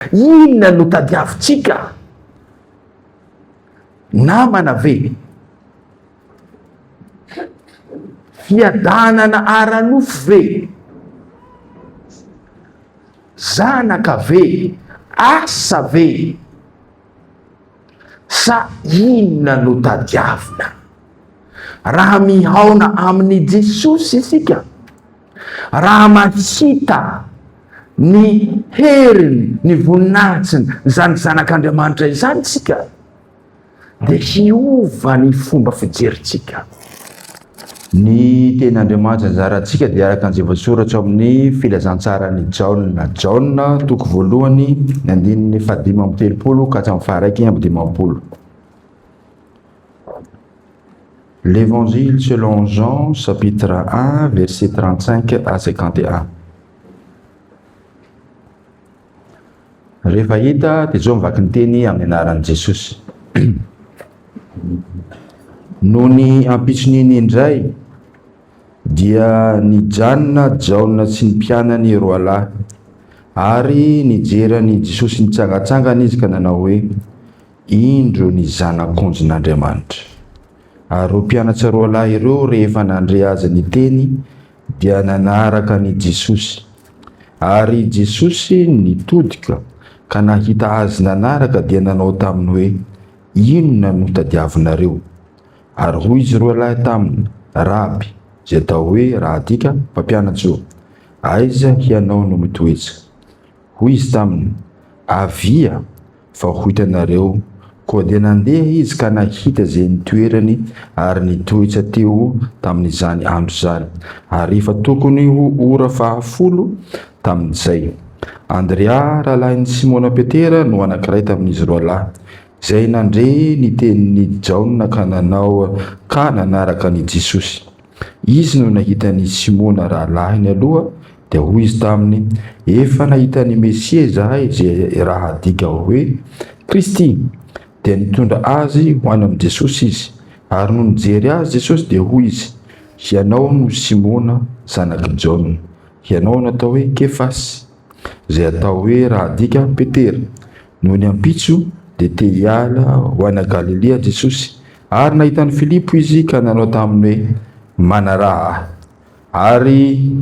Inona no tadiavintsika? Namana ve? Fiadanana ara-nofo ve? Zanaka ve? Asa ve? Sa inona no tadiavina? Raha mihaona amin'i Jesosy isika, Raha mahita ny heriny, ny voninahitsiny, izany Zanak'Andriamanitra izany isika, dia hiova ny fomba fijerintsika. Ny Tenin'Andriamanitra nizarantsika dia araka izay voasoratra ao amin'ny Filazantsaran'i Jaona, Jaona, toko voalohany, ny andininy fahadimy amby telopolo ka hatramin'ny faharaiky amby dimampolo. L'Evangile selon Jean chapitre 1 verset 35 à 51. Rehefa hita dia izao mivaky ny teny amin'ny anaran'i Jesosy. Noho ny ampitson'iny indray dia nijanona Jaona sy ny mpianany roalahy ary nijery an'i Jesosy nitsangantsangana izy ka nanao hoe Indro ny Zanak'onjn'Andriamanitra! Ary ireo mpianatra roalahy ireo rehefa nandre Azy niteny dia nanaraka an' i Jesosy. Ary i Jesosy nitodika ka nahita Azy nanaraka dia nanao taminy hoe, Inona no tadiavinareo? Ary hoy izy roalahy taminy, Raby, izay atao hoe, raha adika, Mpampianatr' o, aiza hianao no mitoetra? Hoy Izy taminy, Avia Vao ho hitanareo. Koa dia nandeha izy ka nahita izay nitoerany ary nitoetsa teo tamin'izany andro izany, ary efa tokony ho ora fahafolo tamin'izay. Andrea, rahalahin'i Simona Petera, no anankiray tamin'izy roalahy, izay nandre ny tenin'i Jaona ka nanao ka nanaraka an'i Jesosy. Izy no nahita an' i Simona rahalahiny aloha, dia hoy izy taminy, Efa nahita an' i Mesia izahay, izay raha adika hoe, Kristy. Dia nitondra azy ho any amin' i Jesosy izy. Ary nony nijery azy Jesosy, dia hoy izy, Hianao no Simona, zanak' i Jaona. Hianao no atao hoe, Kefasy. izay atao hoe raha adika Petera. Nony ampitso, dia te hiala ho any Galilia Jesosy, ary nahita an'i Filipo izy ka nanao taminy hoe, Manaraha ahy. Ary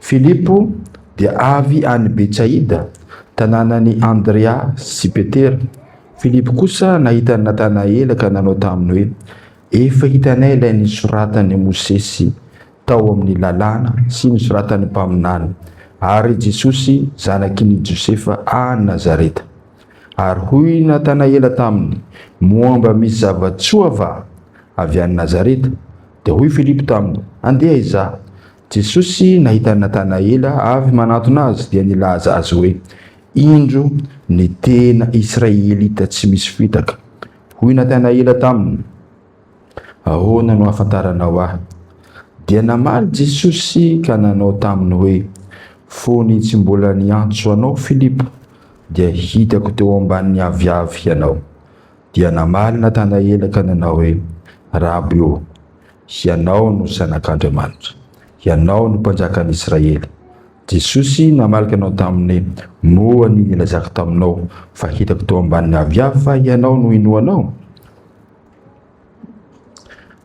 Filipo dia avy any Betsaida, tanànan'i Andrea sy Petera. Filipo kosa nahita an'i Natanaela ka nanao taminy hoe, Efa hitanay ilay nisoratan'i Mosesy tao amin'ny Lalàna sy ny soratan'ny mpaminany, ary i Jesosy zanakin' i Josefa any Nazareta. Ary hoy i Natanaela taminy, Moa mba misy zava-tsoa va avy any Nazareta? Dia hoy Filipo taminy, Andeha hizaha. Jesosy nahita an'i Natanaela avy manantona azy, dia nilaza azy hoe, Indro ny tena Israelita tsy misy fitaka. Hoy Natanaela taminy, Ahoana no ahafantaranao ahy? Dia namaly Jesosy ka nanao taminy hoe, Fony tsy mbola niantso anao Filipo, dia hitako teo ambanin'ny aviavy ianao. Dia namaly Natanaela ka nanao hoe, Raby ô, hianao no Zanak'Andriamanitra, hianao no Mpanjakan'ny Israely. Jesosy namaly ka nanao taminy hoe, Moa ny nilazako taminao fa hitako teo ambanin'ny aviavy fa hianao no inoanao?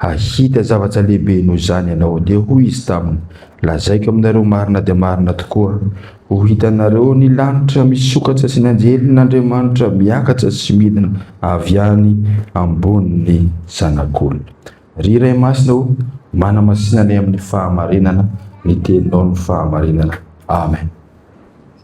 Hahita zavatra lehibe noho izany ianao. Dia hoy izy taminy, Lazaiko aminareo marina dia marina tokoa, ho hitanareo ny lanitra misokatra sy ny anjelin'Andriamanitra miakatra sy midina avy any ambonin'ny Zanak'olona. Ry Ray Masina o, manamasina anay amin'ny fahamarinana ny Teninao ny fahamarinana. Amen.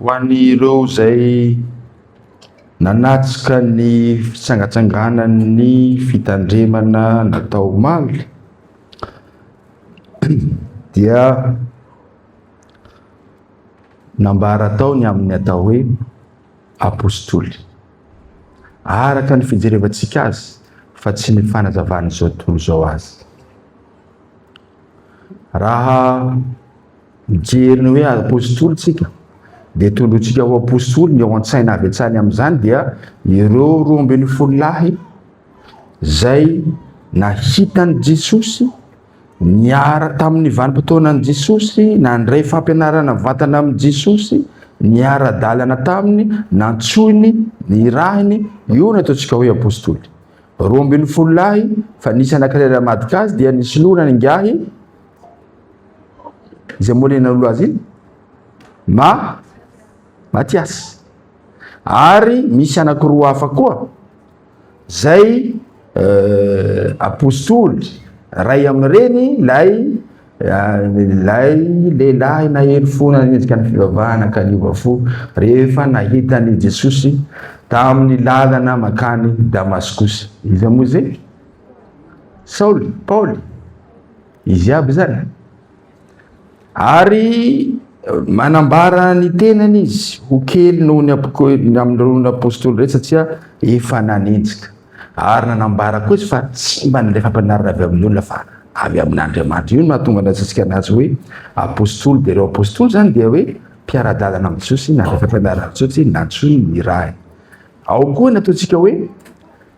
Ho an'ireo izay nanatrika ny fitsangatsanganan'ny fitandremana natao omaly dia nambara tao ny amin'ny atao hoe Apostoly. Araka ny fijerevantsika azy fa tsy ny fanazavan'izao tontolo izao azy. Raha Mijery ny hoe apostoly isika, dia tondrointsika ho apostoly ny ao an-tsaina avy hatrany amin'izany dia ireo roa ambin'ny folo lahy izay nahita an'i Jesosy, niara tamin'ny vanim-potoanan'i Jesosy, nandray fampianarana mivantana amin'i Jesosy, niara-dalana taminy, nantsoiny, nirahiny, io no ataontsika hoe apostoly. Roa ambin'ny folo lahy fa nisy anankiray raha madika azy dia nisoloana ny ingahy, izay moa ilay nanolo azy iny ma matiasy ary misy anakiroa hafa koa zay euh, apostoly ray amin'ireny lay lay lehilahy nahery fona nendrika ny fivavahana ka niova fo rehefa nahita ny jesosy tamin'ny lalana makany damaskosy izy moa izay saoly paoly Izy aby zany. Ary manambara ny tenany izy ho kely noho ny amin'ireo apostoly rehetra satria efa nanenjika. Ary nanambara koa izy fa tsy mba nandray fampianarana avy amin'ny olona fa avy amin'Andriamanitra. Io no mahatonga ny atsika anazy hoe apostoly. Dia ireo apostoly zany dia hoe mpiara-dalana amin'i Jesosy nandray fampianarana amin'i Jesosy nantsoiny ny Ray. Ao koa ny ataontsika hoe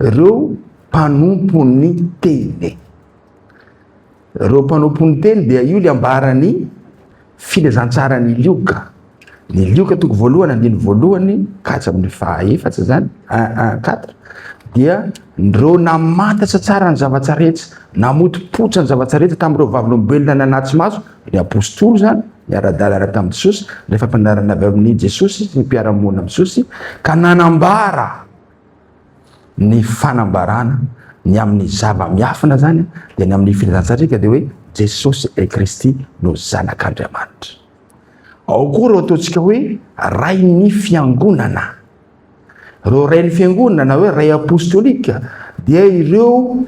ireo mpanompon'ny teny. Ireo mpanompo ny teny dia io ilay ambaran'ny filazantsaran'i Lioka. Ny Lioka toko voalohany andiny voalohany ka hatsy amin'ny fahaefatra izany, un un quatre, dia ireo namantatra tsara ny zavatra rehetra, namotopoitra ny zavatra rehetra tamin'ireo vavolombelona nanatsy maso, ny apostoly izany, ny ara-dalana tamin'i Jesosy, ny fampianarana avy amin'i Jesosy sy ny mpiara-monina amin'i Jesosy, ka nanambara. Ny fanambarana ny amin'ny zava-miafina izany dia ny amin'ny filazantsatrika dia hoe Jesosy et Kristy no zanak'Andriamanitra. Ao koa ireo ataontsika hoe rain'ny fiangonana. Ireo rain'ny fiangonana na hoe ray apostolika dia ireo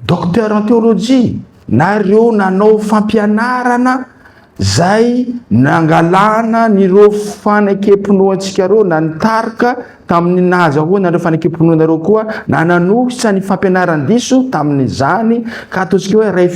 Docteur en théologie, na ireo nanao fampianarana izay nangalana an'ireo fanekempinoantsika ireo, na ny tarika tamin'ny nahazahoana an'ireo fanekempinoana ireo koa, na nanohitra ny fampianaran-diso tamin'izany, ka ataontsika hoe ray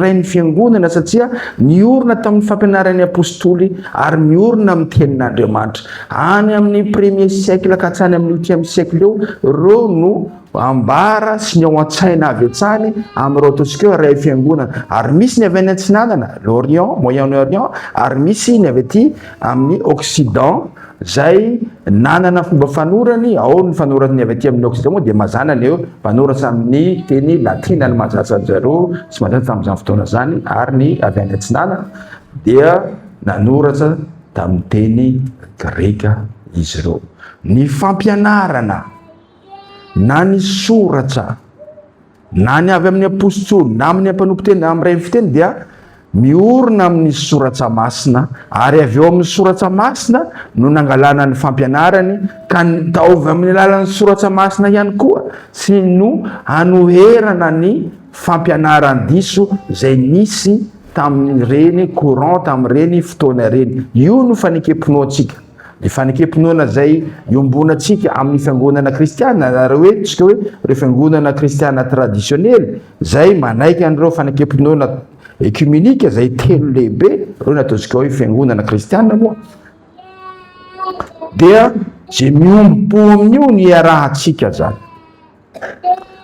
rain'ny Fiangonana, satria niorina tamin'ny fampianaran'ny Apostoly ary miorina amin'ny Tenin'Andriamanitra. Any amin'ny premier siècle ka hatrany amin'ny huitième siècle eo, ireo no. ambara sy ny ao an-tsaina avy hatrany amin'ireo ataontsika hoe iray fiangonana, ary misy ny avy any atsinanana, l'Orient, Moyen-Orient, ary misy ny avy aty amin'ny Occident, izay nanana fomba fanorany, ao ny fanoratany avy aty amin'ny Occident moa dia mazàna ny hoe mpanoratra amin'ny teny latina no mahazatra an-dry zareo sy mahazatra tamin'izany fotoana izany, ary ny avy any atsinanana dia nanoratra tamin'ny teny greka izy ireo. Ny fampianarana. na ny soratra na ny avy amin'ny apostoly na amin'ny mpanomponteny na amin'ny fiteny dia miorina amin'ny soratra masina ary avy eo amin'ny soratra masina no nangalana ny fampianarany ka nitaovy amin'ny alalan'ny soratra masina ihany koa sy no hanoherana ny fampianaran diso izay nisy tamin'ireny courant tamin'ireny fotoana ireny io no fanekempinoantsika Ny fanekem-pinoana izay iombonantsika amin'ny fiangonana kristiana, na ireo hoe tsika hoe ireo fiangonana kristiana tradisionely, izay manaiky an'ireo fanekem-pinoana ekimenika izay telo lehibe, ireo no ataontsika hoe fiangonana kristiana moa, dia izay miombo-po amin'io ny iarahantsika izany.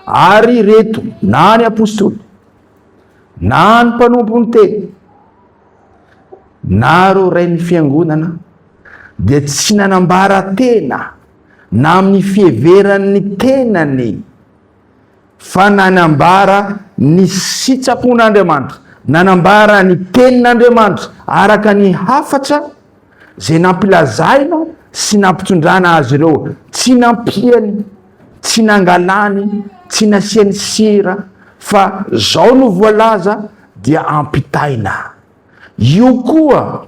Ary ireto, na ny apostoly, na ny mpanompon'ny teny, Naro ray ny fiangonana dia tsy nanambara tena na amin'ny fiheveran'ny tenany fa nanambara ny sitrapon'Andriamanitra, nanambara ny tenin'Andriamanitra araka ny hafatra izay nampilazainao sy nampitondrana azy ireo, tsy nampiany, tsy nangalany, tsy nasiany sira, fa zao no voalaza dia ampitaina. Io koa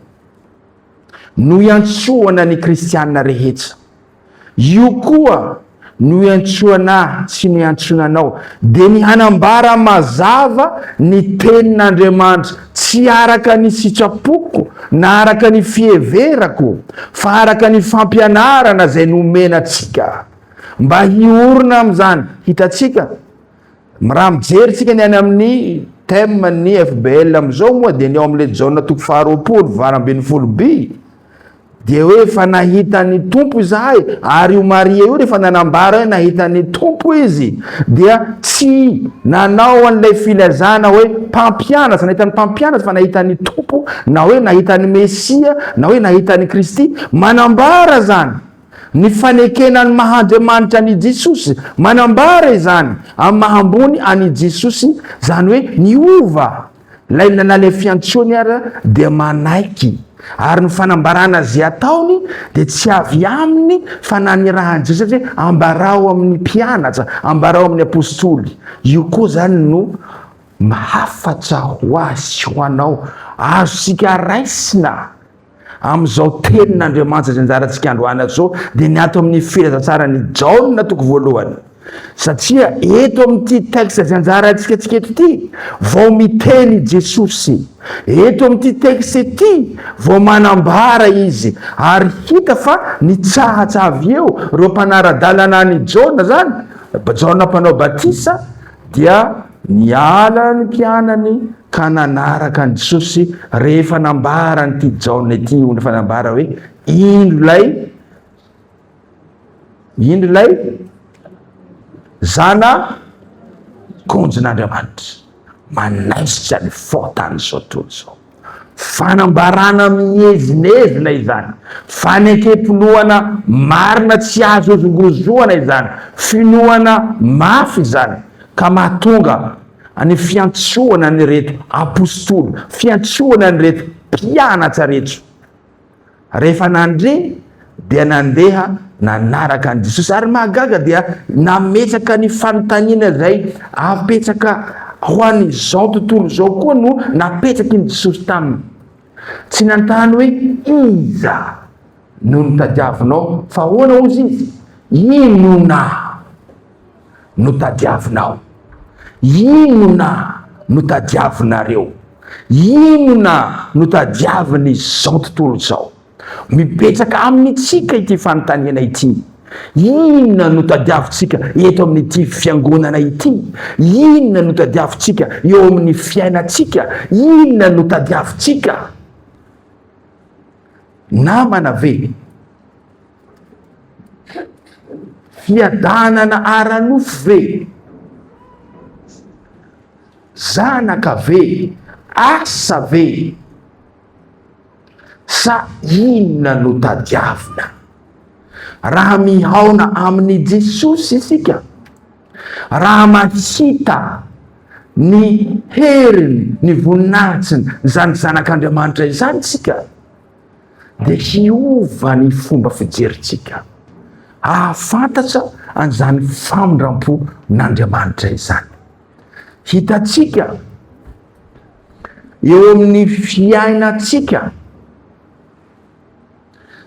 no iantsoana ny kristiana rehetra. Io koa no iantsoana ahy sy no iantsoana anao, dia ny hanambara mazava ny tenin'Andriamanitra, tsy araka ny sitrapoko na araka ny fiheverako, fa araka ny fampianarana izay nomena antsika, mba hiorina amin'izany. Hitantsika, raha mijery tsika ny any amin'ny thème ny FBL amin'izao moa dia ny ao amin'ilay Jaona toko faharoapolo valo ambin'ny folo by, Dia hoe efa nahitan'ny tompo izahay ary io Maria io rehefa nanambara hoe nahitan'ny tompo izy dia tsy nanao an'ilay filazana hoe mpampianatra, nahitan'ny mpampianatra fa nahitan'ny tompo na hoe nahitan'ny Mesia na hoe nahitan'ny Kristy. Manambara izany ny fanekena ny maha Andriamanitra an'i Jesosy, manambara izany amin'ny maha ambony an'i Jesosy, izany hoe niova. Ilay nanale fiantsoany ary dia manaiky, ary ny fanambarana izay ataony dia tsy avy aminy fa nanirahan'i Jesoa hoe ambarao amin'ny mpianatra, ambarao amin'ny apostoly. Io koa izany no hafatra ho ahy sy ho anao, azontsika raisina. Amin'izao tenin'Andriamanitra izay anjarantsika androany izao dia ny ato amin'ny filazantsaran'i Jaona toko voalohany. Satria eto amin'ity texte izay anjarantsika antsika eto ity vao miteny i Jesosy. Eto amin'ity texte ity vao manambara izy ary hita fa nitsahatsavy eo ireo mpanara-dalana an'i Jaona izany, Jaona mpanao batisa, Dia niala ny mpianany ka nanaraka an'i Jesosy rehefa nambaran'ity Jaona ity ho ny fanambara hoe, Indro ilay, indro ilay zana konjon'Andriamanitra, manaisotra ny fao tamin'izao tontolo izao. Fanambarana mihevinevina izany, fanekem-pinoana marina tsy azo hozongozoana izany, finoana mafy izany ka mahatonga ny fiantsoana an'ireto Apostoly, fiantsoana an'ireto mpianatra reto. Rehefa nandre dia nandeha nanaraka an'i Jesosy. Ary mahagaga dia nametraka ny fanontaniana izay apetraka ho an'izao tontolo izao koa no napetraky ny Jesosy taminy. Tsy nanontany hoe iza no nitadiavinao fa ahoana ozy izy? Inona? no tadiavinao? Inona no tadiavinareo? Inona no tadiavin'izao tontolo izao? Mipetraka amintsika ity fanontaniana ity. Inona no tadiavintsika eto amin'ity fiangonana ity? Inona no tadiavintsika eo amin'ny fiainantsika? Inona no tadiavintsika? Namana ve? Fiadanana ara-nofo ve? Zanaka ve? Asa ve? Sa inona no tadiavina? Raha mihaona amin'i Jesosy isika, raha mahita ny heriny, ny voninahitsiny, izany Zanak'Andriamanitra izany isika, dia hiova ny fomba fijerintsika, hahafantatra an'izany famindram-pon'Andriamanitra izany. Hitantsika eo amin'ny fiainantsika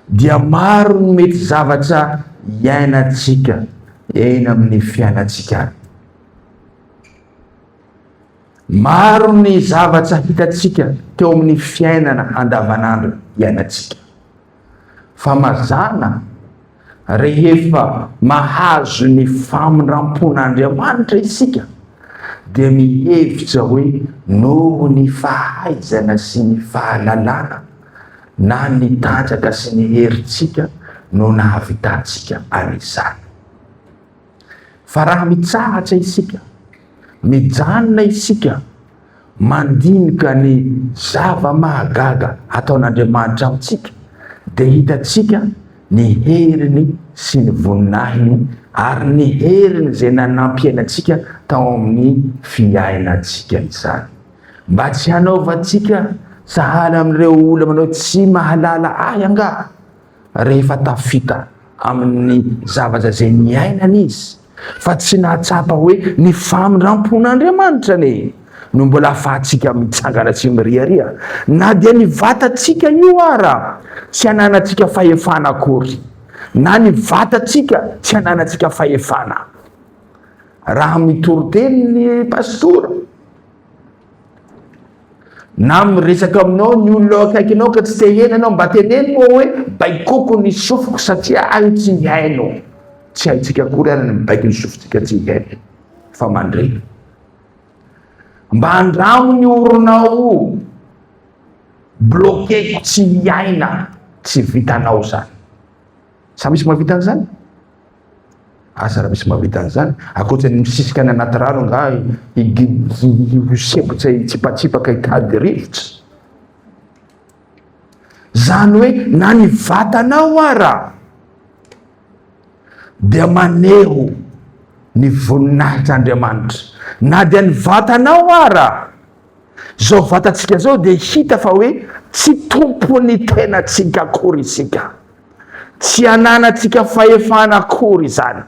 dia maro ny mety zavatra iainantsika eny amin'ny fiainantsika. Maro ny zavatra hitantsika teo amin'ny fiainana andavanandro iainantsika. Fa mazàna, rehefa mahazo ny famindram-pon'Andriamanitra isika, dia mihevitra hoe noho ny fahaizana sy ny fahalalana na ny tanjaka sy ny herintsika no nahavitantsika an'izany. Fa raha mitsahatra isika, mijanona isika mandinika ny zava-mahagaga ataon'Andriamanitra amintsika, dia hitantsika ny heriny sy ny voninahiny ary ny heriny izay nanampiany antsika tao amin'ny fiainantsika izany. Mba tsy hanaovantsika sahala amin'ireo olona manao tsy mahalala ahy angaha? rehefa tafita amin'ny zavatra izay niainany izy, fa tsy nahatsapa hoe ny famindram-pon'Andriamanitra anie no mbola ahafahantsika mitsangana sy miriaria, na dia ny vatantsika io ara tsy ananantsika fahefana akory, na ny vatantsika tsy ananantsika fahefana. Raha mitory teny ny pastora, Na miresaka aminao ny olona eo akaikinao ka tsy te hihaino ianao, mba teneno moa hoe baikoko ny sofiko satria ahy tsy hihaino. Tsy haintsika akory ary ny mibaiko ny sofintsika tsy hihaino fa mandre. Mba andramo ny oronao bloqué tsy hiaina, tsy vitanao zany. Sa misy mahavita an'izany? Asa raha misy mahavita an'izany? Ankoatra ny misisika any anaty rano angaha hisempotra hitsipatsipaka hitady rivotra? Zany hoe na ny vatanao ara dia maneho ny voninahitr'Andriamanitra. Na dia ny vatanao ara, zao vatantsika zao dia hita fa hoe tsy tompon'ny tenantsika akory isika. Tsy ananantsika fahefana akory izany.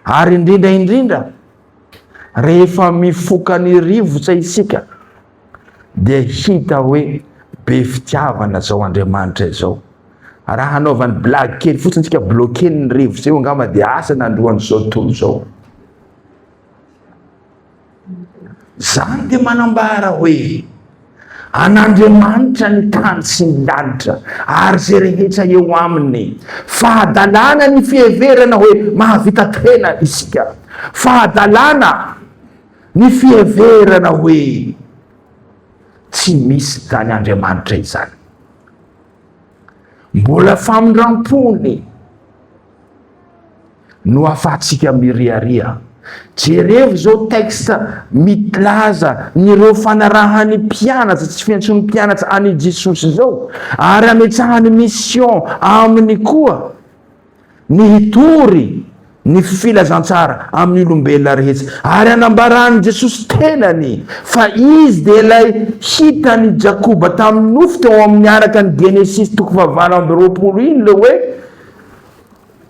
Ary indrindra indrindra, rehefa mifoka ny rivotra isika, dia hita hoe be fitiavana izao Andriamanitra izao. Raha hanaovany blague kely fotsiny isika, bloquer ny rivotra io angamba dia asa nandroan'izao tontolo izao. Izany dia manambara hoe an'Andriamanitra ny tany sy ny lanitra ary izay rehetra eo aminy. Fahadalana ny fiheverana hoe mahavita tena isika. Fahadalana ny fiheverana hoe tsy misy izany Andriamanitra izany. Mbola famindram-pony no afahantsika miriaria. Jerevo izao texte milaza nireo fanarahany mpianatsa tsy fiantsony mpianatsa any Jesosy izao ary ametsahany mission aminy koa ny hitory ny filazantsara amin'ny olombelona rehetsa ary anambarany Jesosy tenany fa izy dia ilay hitany Jakoba tamin'ny nofo teo amin'ny araka ny Genesisy toko fahavalo amby roapolo iny le hoe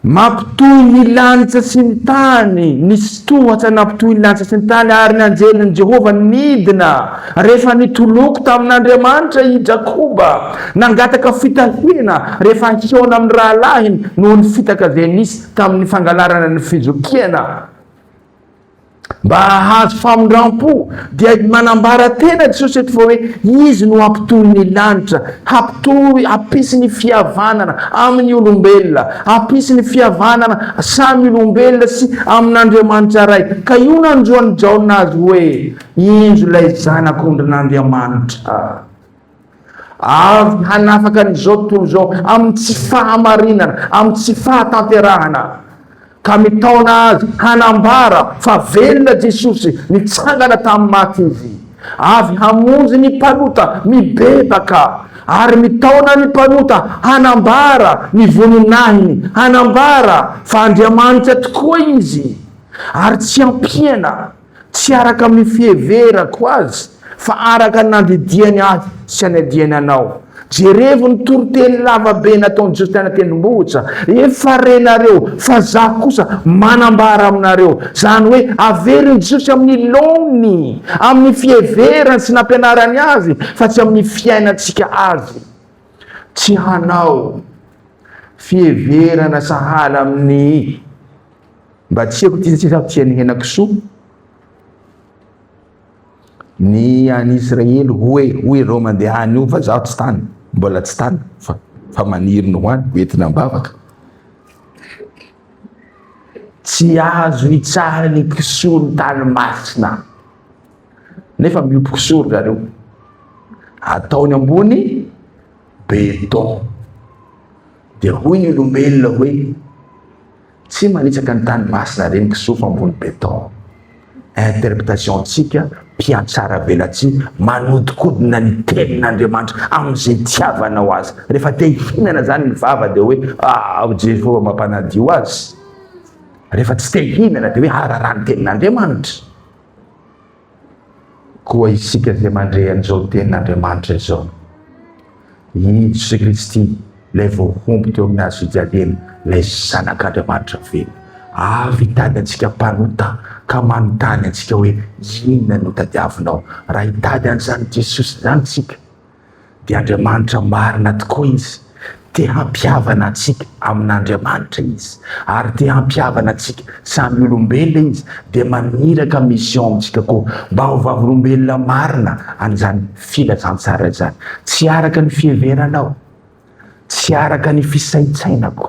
Nampitohy ny lanitra sy ny tany, nisy tohatra nampitohy ny lanitra sy ny tany, ary ny anjelin'i Jehovah nidina. Rehefa nitoloko tamin'Andriamanitra i Jakoba, nangataka fitahiana rehefa hihaona amin'ny rahalahiny noho ny fitaka izay nisy tamin'ny fangalarana ny fizokiana. Mba hahazo famindram-po dia manambara tena Jesosy eto fa hoe izy no hampitohy ny lanitra, hampitohy, hampisy ny fihavanana amin'ny olombelona, hampisy ny fihavanana samy olombelona sy amin'Andriamanitra Ray. Ka io nanjo an'i Jaona azy hoe, Injo ilay Zanak'ondrin'Andriamanitra. Avy hanafaka an'izao tontolo izao amin'ny tsy fahamarinana, amin'ny tsy fahatanterahana, ka mitaona azy hanambara fa velona Jesosy, nitsangana tamin'ny maty Izy. Avy hamonjy ny mpanota mibebaka, ary mitaona ny mpanota hanambara ny voninahiny, hanambara fa Andriamanitra tokoa Izy, ary tsy ampiana. Tsy araka amin'ny fiheverako azy, fa araka ny nandidiany ahy sy hanendiany anao. Jerevo ny toriteny lava be nataon'i Jesosy tany an-tendrombohitra, Efa renareo, fa za kosa manambara aminareo. Izany hoe averin'i Jesosy amin'ny laoniny, amin'ny fiheverany sy nampianarany azy, fa tsy amin'ny fiainantsika azy. Tsy hanao fiheverana sahala amin'ny Mba tsy eko ity tsisy tsy an'ny henakisoa. Ny any Israely hoe hoy ireo mandeha any io fa zaho tsy tany, mbola tsy tany fa fa maniry ny ho any hoentina am-bavaka. Tsy azo hitsara ny kisoa ny tany masina. Nefa miopy kisoa ry zareo. Ataony ambony beton. Dia hoy ny olombelona hoe Tsy manitsaka ny tany masina re ny kisoa fa ambony beton. Interpretation antsika mpiantsara velatsihy manodikodina ny tenin'Andriamanitra amin'izay itiavanao azy. Rehefa te hihinana zany ny vava dia hoe ao Jehovah mampanadio azy. Rehefa tsy te hihinana dia hoe araha ny tenin'Andriamanitra. Koa isika izay mandre an'izao tenin'Andriamanitra izao, i Jesoa Kristy, ilay voahombo teo amin'ny hazo fijaliana, ilay Zanak'Andriamanitra velona, avy hitady antsika mpanota ka manontany antsika hoe, Inona no tadiavinao? Raha hitady an'izany Jesosy izany isika, dia Andriamanitra marina tokoa Izy. Te hampihavana antsika amin'Andriamanitra Izy, ary te hampihavana antsika samy olombelona Izy, dia maniraka mission amintsika koa mba ho vavolombelona marina an'izany filazantsara izany. Tsy araka ny fiheveranao, tsy araka ny fisaintsainako,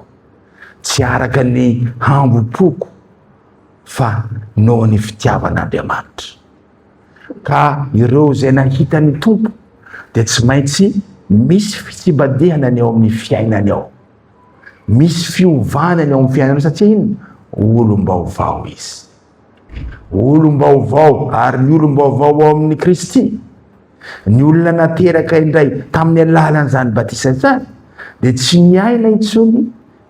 tsy araka ny hambom-poko, fa noho ny fitiavan'Andriamanitra. Ka ireo izay nahita ny Tompo dia tsy maintsy misy fitsibadihana ny ao amin'ny fiainany ao. Misy fiovana ny ao amin'ny fiainany satria inona? Olom-baovao izy. Olom-baovao ary ny olom-baovao ao amin'ny Kristy. Ny olona nateraka indray tamin'ny alalan'izany batisa izany dia tsy miaina intsony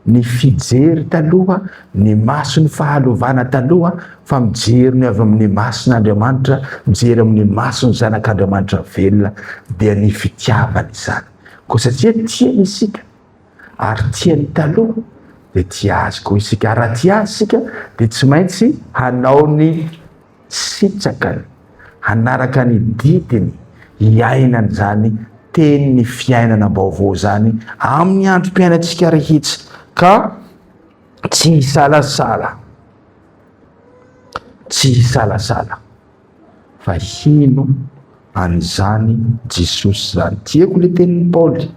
ny fijery taloha, ny mason'ny fahalovana taloha, fa mijery ny avy amin'ny mason'Andriamanitra, mijery amin'ny mason'ny Zanak'Andriamanitra velona, dia ny fitiavana izany. Koa satria tiany isika, ary tiany taloha, dia tia Azy koa isika. Ary raha tia Azy isika, dia tsy maintsy hanao ny. Sitraka hanaraka ny didiny hiaina an'izany teny ny fiainana baovao izany amin'ny androm-piainantsika rehitsy ka tsy hisalasala tsy hisalasala fa hino an'izany Jesosy izany. Tiako ilay tenin'i Paoly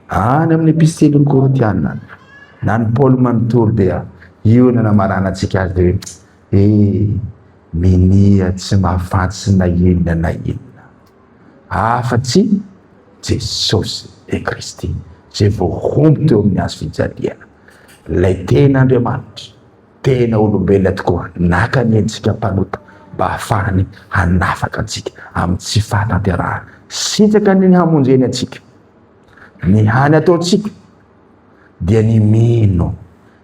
any amin'ny epistelin'i Korintiana any. Na ny Paoly manontolo dia io no namarana antsika azy hoe He! minia tsy mahafantsy na inona na inona afa-tsy Jesosy e Kristy izay vao homby teo amin'ny hazo fijaliana, ilay tena Andriamanitra, tena olombelona tokoa, naka ny endrika mpanota mba hahafahany hanafaka antsika amin'ny tsy fahatanterahana sitraka ny hamonjeny antsika. Ny hany ataontsika dia ny mino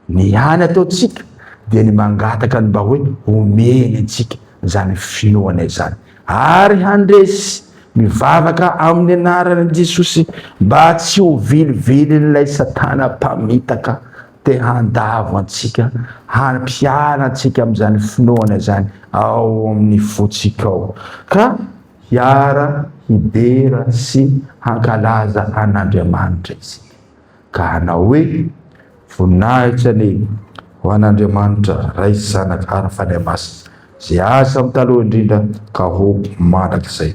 Ny any ataontsika dia ny mangataka ny mba hoe homeny antsika izany finoana izany ary handresy mivavaka amin'ny anaran'i Jesosy mba tsy ho vilivilin'ilay Satana mpamitaka te handavo antsika hampiala antsika amin'izany finoana izany ao amin'ny fontsika ao ka hiara hidera sy hankalaza an'Andriamanitra isika. Ka hanao hoe, Voninahitra anie ho an'Andriamanitra Ray sy Zanaka ary ny Fanahy Masina, izay aza amin'ny taloha indrindra ka ho mandrakizay.